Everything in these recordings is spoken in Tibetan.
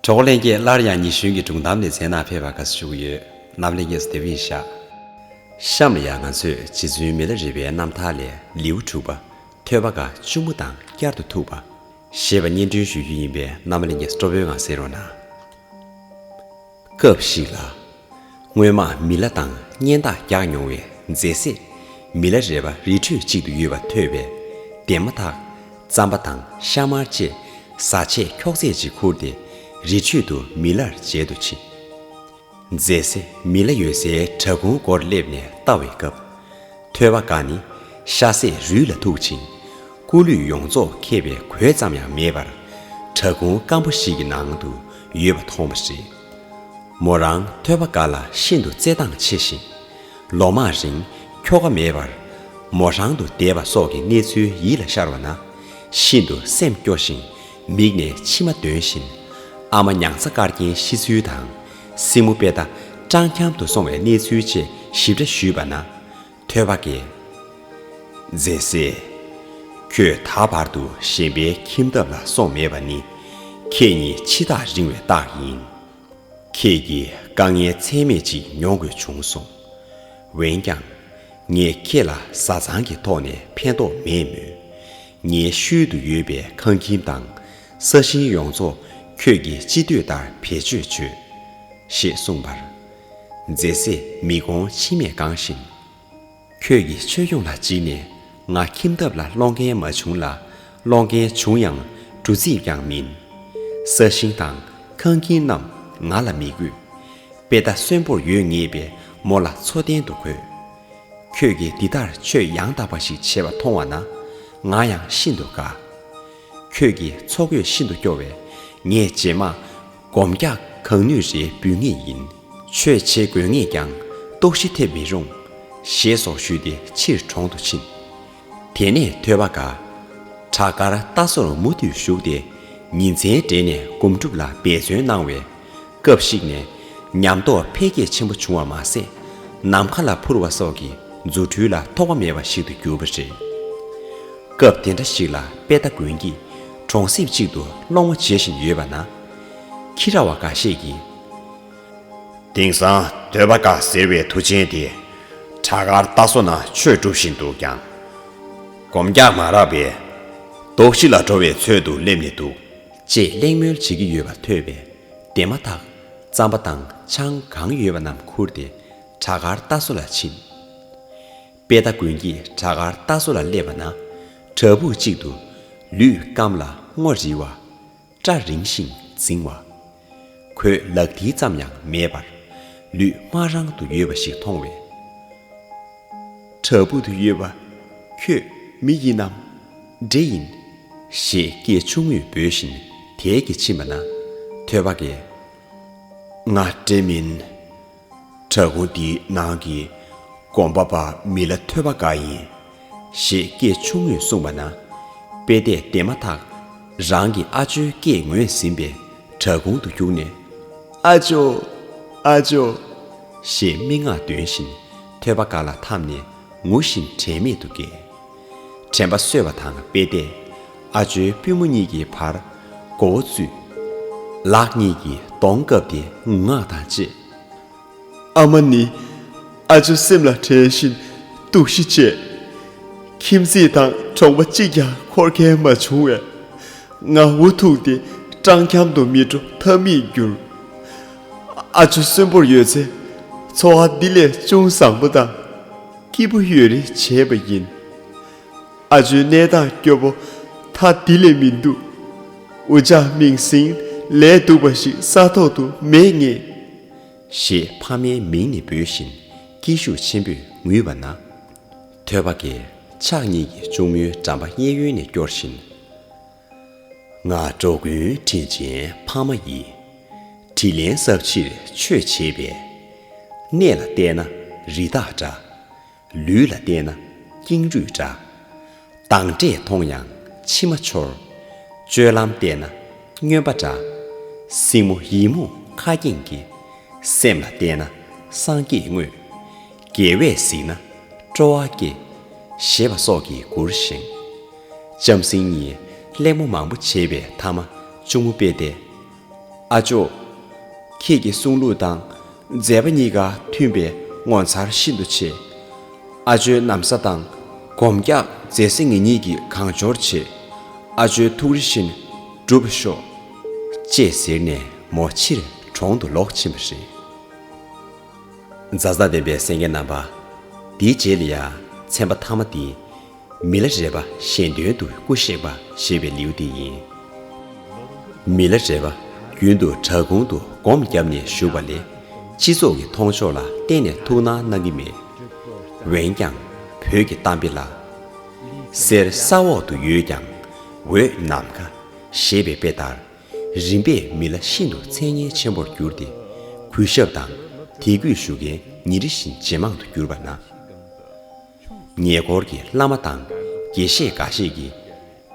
གྲོགས་པོ་ལྷན་རྒྱས་སླར་ཡང་ཉི་གཞོན་གྱི་སྒྲུང་གཏམ་ནས་མཚན་ནག་ཕེབས་པར་དགའ་བསུ་ཞུ་གི་ཡོད། རྣམ་གླེང་གཉིས་སུ་དེ་བཞིན་བཞག། གཤམ་ལ་ཡང་ང་ཚོས་རྗེ་བཙུན་མི་ལ་རི་པའི་རྣམ་ཐར་ལས་ལེའུ་དྲུག་པ། ཐོས་པ་འགའ་གཅུང་མོ་དང་བསྐྱར་དུ་ཐུག་པ། ཞེས་པ་སྙན་སྒྲོན་ཞུ་རྒྱུ་ཡིན་པས་རྣམ་གླེང་གཉིས་སུ་སྤྲོ་པོའི་ངང་གསན་རོགས་གནང། སྐབས་ཤིག་ལ། སྔོན་མ་མི་ལ་དང་གཉེན་རྟགས་རྒྱག་མྱོང་བའི་མཛེ་བསྲེགས་མི་ལ་རས་པ་རི་ཁྲོད་གཅིག་ཏུ་ཡོད་པ་ཐོས་པས་བདེན་མ་ཐག་རྩམ་པ་དང་ཤ་དམར་བཅས་བཟའ་ཆས་འཁྱོག་རྫས་ཅིག་ཁུར་ཏེ་རི་ཁྲོད་དུ་མི་ལར་མཇལ་དུ་ཕྱིན། མཛེ་བསྲེགས་མི་ལ་ཡོད་སའི་བྲག་ཁུང་སྒོར་སླེབས་ནས་ལྟ་བའི་སྐབས། ཐོད་པ་འགའ་ནི་ཤ་ཟད་རུས་ལ་ཐུག་ཅིང། སྐུ་ལུས་ཡོངས་རྫོགས་མཁས་པའི་གོས་ཙམ་ཡང་མེད་པར། བྲག་ཁུང་སྐམ་པོ་ཞིག་གི་ནང་དུ་ཡོད་པ་མཐོང་བ་རེད། མོ་རང་ཐོད་པ་འགའ་ལ་ཤིན་ཏུ་བརྩེ་འདང་ཆེ་ཞིང། ལོ་མང་རིང་ཁྱོ་ག་མེད་པར་མོ་རང་དུ་བསྡད་པ་སོགས་ཀྱི་གནས་ཚུལ་ཡིད་ལ་ཤར་བ་ན། ཤིན་ཏུ་སེམས་སྐྱོ་ཞིང་མིག་ནས་མཆི་མ་འདོན་བཞིན། ཨ་མ་མྱང་ཚ་དཀར་རྒྱན་ཤི་ཚུལ་དང། སྲིང་མོ་དཔལ་རྟ་སྤྲང་འཁྱམ་དུ་སོང་བའི་གནས་ཚུལ་ཆེད་ཞིབ་ཕྲ་ཞུས་པ་ན། ཐོས་པ་དགེ་མཛེས་སེ། ཁྱོད་ད་བར་དུ་གཞན་པའི་ཁྱིམ་ཐབ་ལ་སོང་མེད་པ་ནི། ཁྱེད་ཉིད་འཆི་རྟགས་རིང་བའི་རྟགས་ཡིན། ཁྱེད་ཀྱིས་དཀའ་ངལ་ཚད་མེད་ཅིག་མྱོང་དགོས་བྱུང་སོང། འོན་ཀྱང། ངས་ཁྱེད་ལ་བཟའ་ཚང་གི་ཐོག་ནས་ཕན་ཐོགས་མེད་མོད། ངའི་ཤུལ་དུ་ཡོད་པའི་ཁང་ཁྱིམ་དང་ས་ཞིང་ཡོངས་རྫོགས་ཁྱོད་ཀྱིས་ཅི་འདོད་ལྟར་བེད་སྤྱོད་བྱོས། ཞེས་གསུངས་པར། མཛེས་སེ་མི་དགོང་མཆི་མས་གང་ཞིང། ཁྱོད་ཀྱིས་ཆོས་སྐྱོང་ལ་བརྗིད་ནས་ང་ཁྱིམ་ཐབ་ལ་སློང་མཁན་མ་བྱུང་ལ་སློང་མཁན་བྱུང་ཡང་འབྲུ་རྩིས་ཀྱང་མིན། ས་ཞིང་དང་ཁང་ཁྱིམ་རྣམས་ང་ལ་མི་དགོས། དཔེ་ལྟ་གསོན་པོར་ཡོད་ངེས་པའི་མོ་ལ་འཚོ་རྟེན་དུ་གོས། ཁྱོད་ཀྱིས་འདི་ལྟར་ཆོས་ཡང་དག་པ་ཞིག་བྱེད་པ་མཐོང་བ་ན། ང་ཡང་ཤིན་ཏུ་དགའ། ཁྱོད་ཀྱིས་ཚོགས་གཡོས་ཤིན་ཏུ་སྐྱོ་བས། ངས་རྗེས་མ། སྒོམ་རྒྱག་གང་ནུས་རེ་འབུལ་ངེས་ཡིན། ཆོས་བྱེད་དགོས་ངེས་ཀྱང། ལྟོགས་ཤི་ཐེབས་མི་རུང། ཞེས་སོགས་ཞུས་ཏེ་ཕྱིར་གྲོང་དུ་ཕྱིན། དེ་ནས་ཐོད་པ་དགའ། བྲག་དཀར་རྟ་ཟོར་མུ་མཐུད་བཞུགས་ཏེ། ཉིན་མཚན་སྦྲེལ་ནས་སྒོམ་སྒྲུབ་ལ་འབད་བརྩོན་གནང་བས། སྐབས་ཤིག་ནས་ཉམས་རྟོགས་འཕེལ་རྒྱས་ཆེན་པོ་བྱུང་བ་མ་ཟད། ནམ་མཁའ་ལ་འཕུར་བ་སོགས་ཀྱི་རྫུ་འཕྲུལ་ལ་ཐོགས་པ་མེད་པ་ཞིག་ཏུ་གྱུར་པ་རེད། སྐབས་དེ་འདྲ་ཞིག་ལ་དཔལ་རྟ་དགོན་གྱི་གྲོང་གསེབ་ཅིག་ཏུ་སློང་བ་བྱེད་བཞིན་ཡོད་པ་ན། ཁྱི་ར་བ་འགའ་ཤས་ཀྱིས། དེང་སང་འདོད་པ་དགའ་ཟེར་བའི་མཐུ་ཆེན་དེ། བྲག་དཀར་རྟ་བཟོ་ན་ཆོས་སྒྲུབ་བཞིན་འདུག་ཀྱང། སྒོམ་རྒྱག་མ་རག་པས། རྡོ་གཅིག་ལ་འགྲོ་བའི་ཚོད་དུ་སླེབས་ནས་འདུག། ཅེས་གླེང་མོལ་བྱེད་ཀྱི་ཡོད་པ་ཐོས་པས་དེ་མ་ཐག་རྩམ་པ་དང་ཆང་གང་ཡོད་པ་རྣམས་ཁུར་ཏེ་བྲག་དཀར་རྟ་བཟོ་ལ་ཕྱིན། དཔེ་ལྟ་དགོན་གྱི་བྲག་དཀར་རྟ་བཟོ་ལ་སླེབས་པ་ན་བྲག་ཕུག་ཅིག་ཏུ་ལུས་བསྐམས་ལ་སྔོ་རིལ་བ། སྐྲ་རིང་ཞིང་འཛིང་བ། གོས་ལག་མཐིལ་ཙམ་ཡང་མེད་པར། ལུས་དམར་རང་དུ་ཡོད་པ་ཞིག་མཐོང་བས། བྲག་ཕུག་ཏུ་ཡོད་པ། ཁྱོད་མི་ཡིན་ནམ། འདྲེ་ཡིན། ཞེས་སྐད་ཆུང་ངུས་འབོད་བཞིན་དལ་གྱིས་ཕྱིན་པ་ན། ཐོས་པ་ཀའི། ང་འདྲེ་མིན། བྲག་སྒོ་འདིའི་ནང་གི་དགོན་པ་པ་མི་ལ་ཐོས་པ་འགའ་ཡིན། ཞེས་སྐད་ཆུང་ངུས་གསུངས་པ་ན། དཔེ་བལྟས་བལྟས་མ་ཐག་རང་གི་ཨ་ཅོའི་སྐད་ངོས་ཟིན་པས་བྲག་ཁུང་དུ་བརྒྱུགས་ནས། ཨ་ཅོ། ཨ་ཅོ། ཞེས་སྨྲེ་སྔགས་འདོན་བཞིན་ཐོས་པ་འགའ་ལ་འཐམས་ནས་ངུ་བཞིན་དྲན་མེད་དུ་བསྐྱལ། དྲན་པ་གསོས་པ་དང་དཔེ་བལྟས། ཨ་ཇོའི་པུས་མོ་གཉིས་ཀྱི་བར་མགོ་བོ་བཙུད། ལག་གཉིས་ཀྱིས་གདོང་བཀབ་སྟེ་ངུ་ངག་དང་བཅས། ཨ་མ་ནི། ཨ་ཇོ་སེམས་ལ་དྲན་བཞིན་སྡུག་གཞི་སྤྱད། ཁྱིམ་མཚེས་དང་གྲོང་པ་གཅིག་ཀྱང་འཁོར་མཁན་མ་བྱུང་བས། ང་འུ་ཐུག་སྟེ་སྤྲང་འཁྱམ་དུ་མི་འགྲོ་ཐབས་མེད་གྱུར། ཨ་ཇོ་གསོན་པོར་ཡོད་ཚེ་འཚོ་བ་འདི་ལས་ཅུང་བཟང་པོ་དང། སྐྱིད་པོ་ཡོད་རེ་བྱས་པ་ཡིན། ཨ་ཇོའི་གནས་སྟངས་སྐྱོ་པོ་ཐ་དེ་ལས་མི་འདུག་འུ་ཅག་མིང་སྲིང་ལས་སྡུག་པ་ཞིག་ས་ཐོག་ཏུ་མེད་ངེས། ཞེས་ཕ་མའི་མིང་ནས་འབོད་བཞིན་སྐད་ཤུགས་ཆེན་པོས་ངུས་པ་ན། ཐོད་པ་ཀའི་ཕྱག་གཉིས་ཀྱིས་གཅུང་མོའི་འགྲམ་པ་གཡས་གཡོན་ནས་སྐྱོར་བཞིན། སྔགས་འགྲོ་མགོན་དྲིན་ཅན་འཕགས་མ་ཡི། དྲིས་ལན་གཟབ་ཕྱིར་མཆོད་བྱེད་པའི། གནས་ལ་བལྟས་ན་རི་དྭགས་འདྲ། ལུས་ལ་བལྟས་ན་ཀེང་རུས་འདྲ། བདག་འདྲས་མཐོང་ཡང་མཆི་མ་འཆོར། སྤྱོད་ལམ་བལྟས་ན་སྨྱོན་པ་འདྲ། སྲིང་མོ་ཡིད་མུག་ཁ་སྐྱེངས་ཀྱི། སེམས་ལ་བལྟས་ན་སངས་རྒྱས་དངོས། རྒྱལ་བས་གཟིགས་ན་སྤྲོ་བ་སྐྱེ། ཞེས་པ་སོགས་ཀྱིས་མགུར་བཞེངས། ལྕམ་སྲིང་གཉིས་གླེང་མོ་མང་པོ་བྱེད་པའི་མཐའ་མ་ཅུང་མོ་དཔེ་སྟེ། ཨ་ཅོ། ཁྱེད་ཀྱི་གསུང་ལུགས་དང་མཛད་པ་གཉིས་ཀ་མཐུན་པས་ངོ་མཚར་ཤིན་ཏུ་ཆེ། ཨ་ཅོའི་གནམ་ས་དང་སྒོམ་རྒྱག་མཛད་སྲིད་ངེད་གཉིས་ཀྱི་གང་འབྱོར་བྱེད། ཨ་ཅོའི་ཐུགས་རེ་བཞིན་འགྲུབ་ཤོག། ཅེས་ཟེར་ནས་མོ་ཕྱིར་གྲོང་དུ་ལོག་ཕྱིན་པ་རེད། མཛའ་བརྩེ་ལྡན་པའི་སེང་གེ་རྣམ་པ། འདིའི་རྗེས་ལ་ཡང་ཚན་པ་མཐའ་མ་འདི། མི་ལ་རས་པ་གཞན་དོན་དུ་སྐུ་གཤེགས་པ་ཞེས་པའི་ལེའུ་སྟེ་ཡིན། མི་ལ་རས་པ་རྒྱུན་དུ་བྲག་ཁུང་དུ་སྒོམ་བརྒྱབ་ནས་བཞུགས་པ་ལས་སྤྱི་ཚོགས་ཀྱི་མཐོང་ཕྱོགས་ལ་གཏན་ནས་ཐུགས་སྣང་གནང་གི་མེད། འོན་ཀྱང་བོད་ཀྱི་གཏམ་དཔེ་ལ། གསེར་ས་འོག་ཏུ་ཡོད་ཀྱང་འོད་ནམ་མཁའ་ཞེས་པའི་དཔེ་ལྟར། རིམ་པས་མི་ལ་ཤིན་ཏུ་མཚན་སྙན་ཆེན་པོར་གྱུར་ཏེ། གུས་ཞབས་དང་དད་གུས་ཞུ་མཁན་ཉིན་རེ་བཞིན་ཇེ་མང་དུ་གྱུར་པ་ན། ཉེ་འཁོར་གྱི་བླ་མ་དང་དགེ་བཤེས་འགའ་ཤས་ཀྱིས།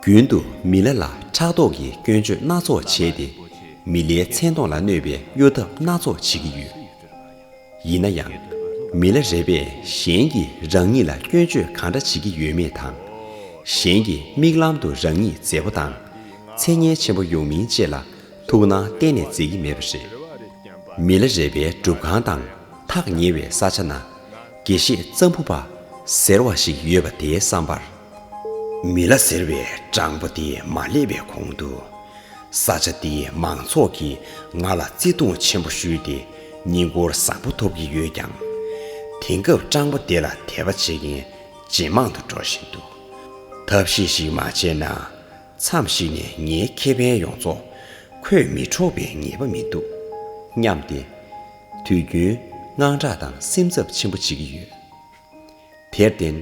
རྒྱུན་དུ་མི་ལ་ལ་ཕྲག་དོག་གི་སྐྱོན་བརྗོད་སྣ་ཚོགས་བྱས་ཏེ། མི་ལའི་མཚན་མཐོང་ལ་གནོད་པའི་གཡོ་ཐབས་སྣ་ཚོགས་བྱེད་ཀྱི་ཡོད། ཡིན་ན་ཡང། མི་ལ་རས་པས་གཞན་གྱིས་རང་ཉིད་ལ་སྐྱོན་བརྗོད་གང་འདྲ་བྱེད་ཀྱི་ཡོད་མེད་དང། གཞན་གྱི་མིག་ལམ་དུ་རང་ཉིད་མཛེས་པོ་དང་མཚན་སྙན་ཆེན་པོ་ཡོང་མིན་བཅས་ལ་ཐུགས་སྣང་གཏན་ནས་མཛད་ཀྱི་མེད་པ་རེད། མི་ལ་རས་པའི་སྒྲུབ་ཁང་དང་ཐག་ཉེ་བའི་ས་ཆ་ན། དགེ་བཤེས་གཙང་བུ་པ་ཟེར་བ་ཞིག་ཡོད་པ་དེའི་བསམ་པར། མི་ལ་ཟེར་བའི་སྤྲང་པོ་དེ་མ་སླེབས་པའི་གོང་དུ། ས་ཆ་དེའི་མང་ཚོགས་ཀྱིས་ང་ལ་བརྩེ་དུང་ཆེན་པོ་ཞུས་ཏེ་བསྙེན་བཀུར་བཟང་པོ་ཐོབ་ཀྱི་ཡོད་ཀྱང། དེང་སྐབས་སྤྲང་པོ་དེ་ལ་དད་པ་བྱེད་མཁན་ཇེ་མང་དུ་འགྲོ་བཞིན་འདུག་ཐབས་ཤེས་ཤིག་མ་བྱས་ན། མཚམས་ཤིག་ནས་ངའི་ཁེ་ཕན་ཡོངས་རྫོགས་ཁོས་མི་འཕྲོག་པའི་ངེས་པ་མི་འདུག་སྙམ་སྟེ། དུས་རྒྱུན་དངངས་སྐྲག་དང་སེམས་འཚབ་ཆེན་པོ་བྱེད་ཀྱི་ཡོད། དེར་བརྟེན།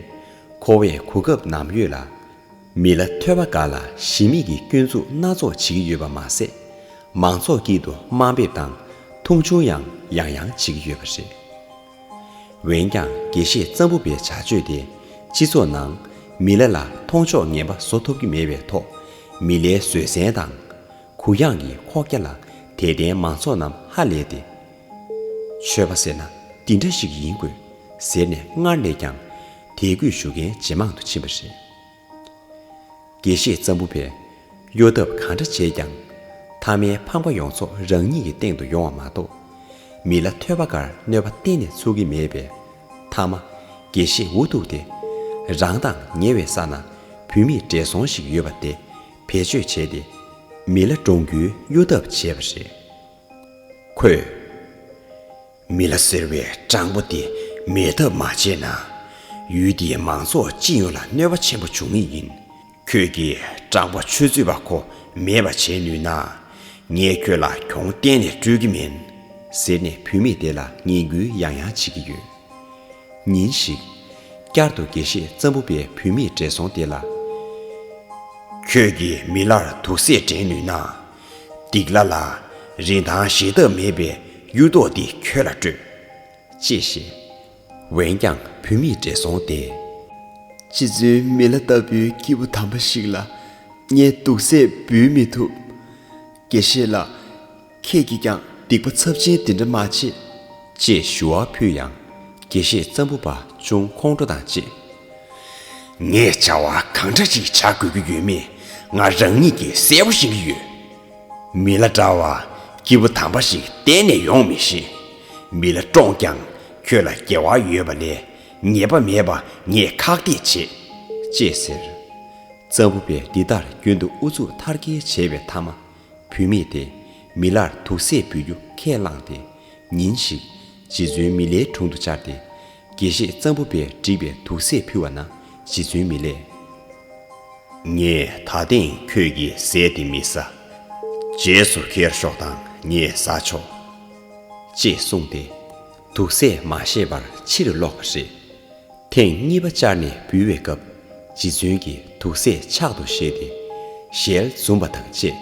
ཁོ་བོས་གོ་སྐབས་ནམ་ཡོད་ལ། མི་ལ་ཐོས་པ་འགའ་ལ་གཞི་མེད་ཀྱི་སྐྱོན་འཛུགས་སྣ་ཚོགས་བྱེད་ཀྱི་ཡོད་པ་མ་ཟད། མང་ཚོགས་དཀྱིལ་དུ་དམའ་འབེབས་དང་མཐོང་ཆུང་ཡང་ཡང་ཡང་བྱེད་ཀྱི་ཡོད་པ་རེད། འོན་ཀྱང་དགེ་བཤེས་གཙང་པོ་པའི་བྱ་སྤྱོད་དེ་སྤྱི་ཚོགས་ནང་མི་ལ་ལ་མཐོང་ཕྱོགས་ངན་པ་བཟོ་ཐུབ་ཀྱི་མེད་པའི་ཐོག་མི་ལའི་བཟོད་བསྲན་དང། གུ་ཡངས་ཀྱི་ཁོག་རྒྱ་ལ་དད་ལྡན་མང་ཚོགས་རྣམས་ཧ་ལས་ཏེ། ཆོས་པ་ཟེར་ན་འདི་འདྲ་ཞིག་ཡིན་དགོས་ཟེར་ནས་སྔར་ལས་ཀྱང་དད་གུས་ཞུ་མཁན་ཇེ་མང་དུ་ཕྱིན་པ་རེད། དགེ་བཤེས་ཙམ་པོ་པས་གཡོ་ཐབས་གང་འདྲ་བྱས་ཀྱང། མཐའ་མའི་ཕངས་པ་ཡོངས་རྫོགས་རང་ཉིད་ཀྱི་སྟེང་དུ་ཡོང་བ་མ་གཏོགས། མི་ལ་ཐོས་པ་འགར་གནོད་པ་གཏན་ནས་ཚུགས་ཀྱི་མེད་པས། མཐའ་མ། དགེ་བཤེས་འུ་ཐུག་དེ། རང་དང་ཉེ་བའི་ས་ན་བུད་མེད་བགྲེས་སོང་ཞིག་ཡོད་པ་དེ་བེད་སྤྱོད་བྱས་ཏེ་མི་ལ་བཀྲོངས་རྒྱུའི་གཡོ་ཐབས་བྱས་པ་རེད། ཁོས། མི་ལ་ཟེར་བའི་སྤྲང་པོ་དེ་མེད་ཐབས་མ་བྱས་ན། ཡུལ་འདིའི་མང་ཚོགས་སྤྱི་ཡོངས་ལ་གནོད་པ་ཆེན་པོ་འབྱུང་ངེས་ཡིན། ཁྱོད་ཀྱིས་སྤྲང་པོ་ཆོས་རྩོད་པ་ཁོ་མེད་པ་བྱེད་ནུས་ན། ངས་ཁྱོད་ལ་གྱོང་གཏན་ནས་སྤྲོད་ཀྱི་མིན། ཟེར་ནས་བུད་མེད་དེ་ལ་ངན་སྐུལ་ཡང་ཡང་བྱེད་ཀྱི་ཡོད། ཉིན་ཞིག། བསྐྱར་དུ་དགེ་བཤེས་གཙང་པོ་པའི་བུད་མེད་བགྲེས་སོང་དེ་ལ། ཁྱོད་ཀྱིས་མི་ལར་དུག་སེལ་དྲན་ནུས་ན། སྡིག་ལ་ལ། རིན་ཐང་ཞེ་ཐབས་མེད་པའི་གཡུ་རྡོག་འདི་ཁྱོད་ལ་སྤྲོད། ཅེས་བཤད། འོན་ཀྱང་བུད་མེད་བགྲེས་སོང་དེས། ཅི་བརྫུན་མི་ལ་ལྟ་བུའི་སྐྱེས་བུ་དམ་པ་ཞིག་ལ། ངས་དུག་སེལ་འབུལ་མི་ཐུབ། དགེ་བཤེས་ལགས། ཁྱེད་ཀྱིས་ཀྱང་སྡིག་པ་ཚབས་ཆེན་འདི་འདྲ་མ་བྱེད། ཅེས་ཞུ་བ་ཕུལ་ཡང། དགེ་བཤེས་གཙང་པོ་པ་ཅུང་ཁོང་ཁྲོ་དང་བཅས། ངས་བྱ་བ་གང་འདྲ་ཞིག་བྱ་དགོས་ཀྱི་ཡོད་མེད་ང་རང་ཉིད་ཀྱིས་གསལ་པོ་ཤེས་ཀྱི་ཡོད། མི་ལ་འདྲ་བ་སྐྱིད་པོ་དམ་པ་ཞིག་གཏན་ནས་ཡོང་མི་ཤེས། མི་ལ་བཀྲོངས་ཀྱང་ཁྱོད་ལ་དགེ་བ་ཡོད་པ་ལས་ཉེས་པ་མེད་པ་ངས་ཁག་ཐེག་བྱེད། ཅེས་ཟེར། གཙང་པོ་པས་འདི་ལྟར་རྒྱུན་དུ་ཨུ་ཚུགས་མཐར་སྐྱེལ་བྱས་པའི་མཐའ་མ། བུད་མེད་དེ། མི་ལར་དུག་སེལ་འབུལ་རྒྱུ་ཁས་བླངས་ཏེ། ཉིན་ཞིག། རྗེ་བཙུན་མི་ལའི་དྲུང་དུ་བཅར་ཏེ། དགེ་བཤེས་གཙང་པོ་པས་བསྒྲིགས་པའི་དུག་སེལ་ཕུལ་བ་ན་རྗེ་བཙུན་མི་ལས། ངས་ད་ཐེངས་ཁྱོད་ཀྱིས་ཟས་དེ་མི་ཟ། རྗེས་སུ་ཁྱེར་ཤོག་དང་ངས་ཟ་ཆོག། ཅེས་གསུངས་ཏེ། དུག་སེལ་མ་ཤེས་པར་ཕྱིར་ལོག་པ་རེད། ཐེངས་གཉིས་པ་བཅར་ནས་འབུལ་བའི་སྐབས་རྗེ་བཙུན་གྱིས་དུག་སེལ་ཕྱག་ཏུ་བཞེས་ཏེ་ཞལ་འཛུམ་པ་དང་བཅས།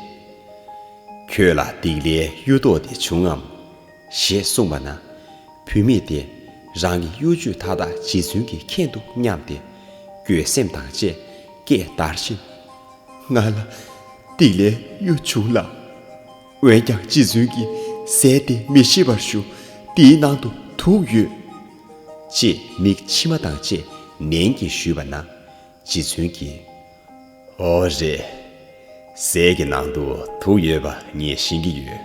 ཁྱོད་ལ་སྡིག་ལའི་གཡུ་ཐོག་དེ་བྱུང་ངམ། ཞེས་གསུངས་པ་ན། བུད་མེད་དེས་རང་གི་གཡོ་ཇུས་མཐའ་དག་རྗེ་བཙུན་གྱིས་མཁྱེན་འདུག་སྙམ་སྟེ། འགྱོད་སེམས་དང་བཅས་སྐད་བརྡར་བཞིན། ང་ལ་སྡིག་ལའི་གཡུ་བྱུང་ལགས། འོན་ཀྱང་རྗེ་བཙུན་གྱིས་ཟས་དེ་མི་ཤི་བར་ཞུ། འདིའི་ནང་དུ་དུག་ཡོད། ཅེས་མིག་མཆི་མ་དང་བཅས་ནན་གྱིས་ཞུས་པ་ན། རྗེ་བཙུན་གྱིས། ཨོ་རེད། ཟས་ཀྱི་ནང་དུ་དུག་ཡོད་པ་ངས་ཤེས་ཀྱི་ཡོད།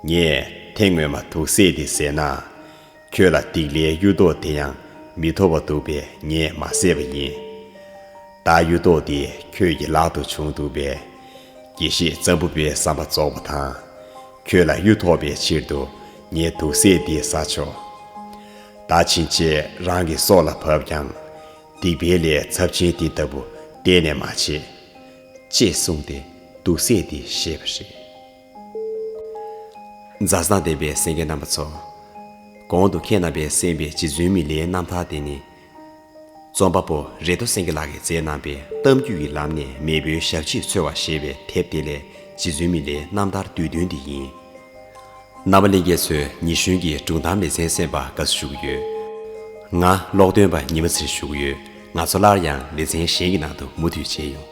ངས་དེ་སྔོན་མ་དུག་བསྲེས་ཏེ་བཟས་ན། ཁྱོད་ལ་སྡིག་ལའི་གཡུ་རྡོག་དེ་ཡང་མི་ཐོབ་བ་འདུག་པས་ངས་མ་བཟས་པ་ཡིན། ད་གཡུ་རྡོག་དེ་ཁྱོད་ཀྱི་ལག་ཏུ་བྱུང་འདུག་པས། དགེ་བཤེས་ཙམ་པོ་པའི་བསམ་པ་རྫོགས་པ་དང། ཁྱོད་ལ་གཡུ་ཐོག་པའི་ཕྱིར་དུ་ངས་དུག་སེལ་འདི་བཟའ་ཆོག། ད་ཕྱིན་ཆད་རང་གི་སྲོག་ལ་བབ་ཀྱང། སྡིག་པའི་ལས་ཚབས་ཆེན་འདི་ལྟ་བུ་གཏན་ནས་མ་བྱེད། ཅེས་གསུངས་ཏེ་དུག་སེལ་འདི་བཞེས་པ་རེད། མཛའ་བཟང་ལྡན་པའི་སེང་གེ་རྣམ་པ་ཚོ། གོང་དུ་ཁྱེད་རྣམ་པས་གསན་པའི་རྗེ་བཙུན་མི་ལའི་རྣམ་ཐར་དེ་ནི། རྩོམ་པ་པོ་རེ་དོ་སེང་གེ་ལགས་ཀྱིས་མཛད་གནང་པའི་གཏམ་རྒྱུད་ཀྱི་ལམ་ནས་མེས་པོའི་ཞབས་རྗེས་འཚོལ་བ་ཞེས་པའི་དེབ་དེ་ལས་རྗེ་བཙུན་མི་ལའི་རྣམ་ཐར་བསྡུས་དོན་འདི་ཡིན། རྣ་བ་གླིང་རྒྱལ་ཚོའི་ཉི་གཞོན་གྱི་སྒྲུང་གཏམ་ལེ་ཚན་གསན་པ་དགའ་བསུ་ཞུ་གི་ཡོད། ང་ཀློག་འདོན་པ་ཉི་མ་ཚེ་རིང་ཞུ་གི་ཡོད་ང་ཚོ་སླར་ཡང་ལེ་ཚན་གཞན་གྱི་ནང་དུ་མུ་མཐུད་མཇལ་ཡོང།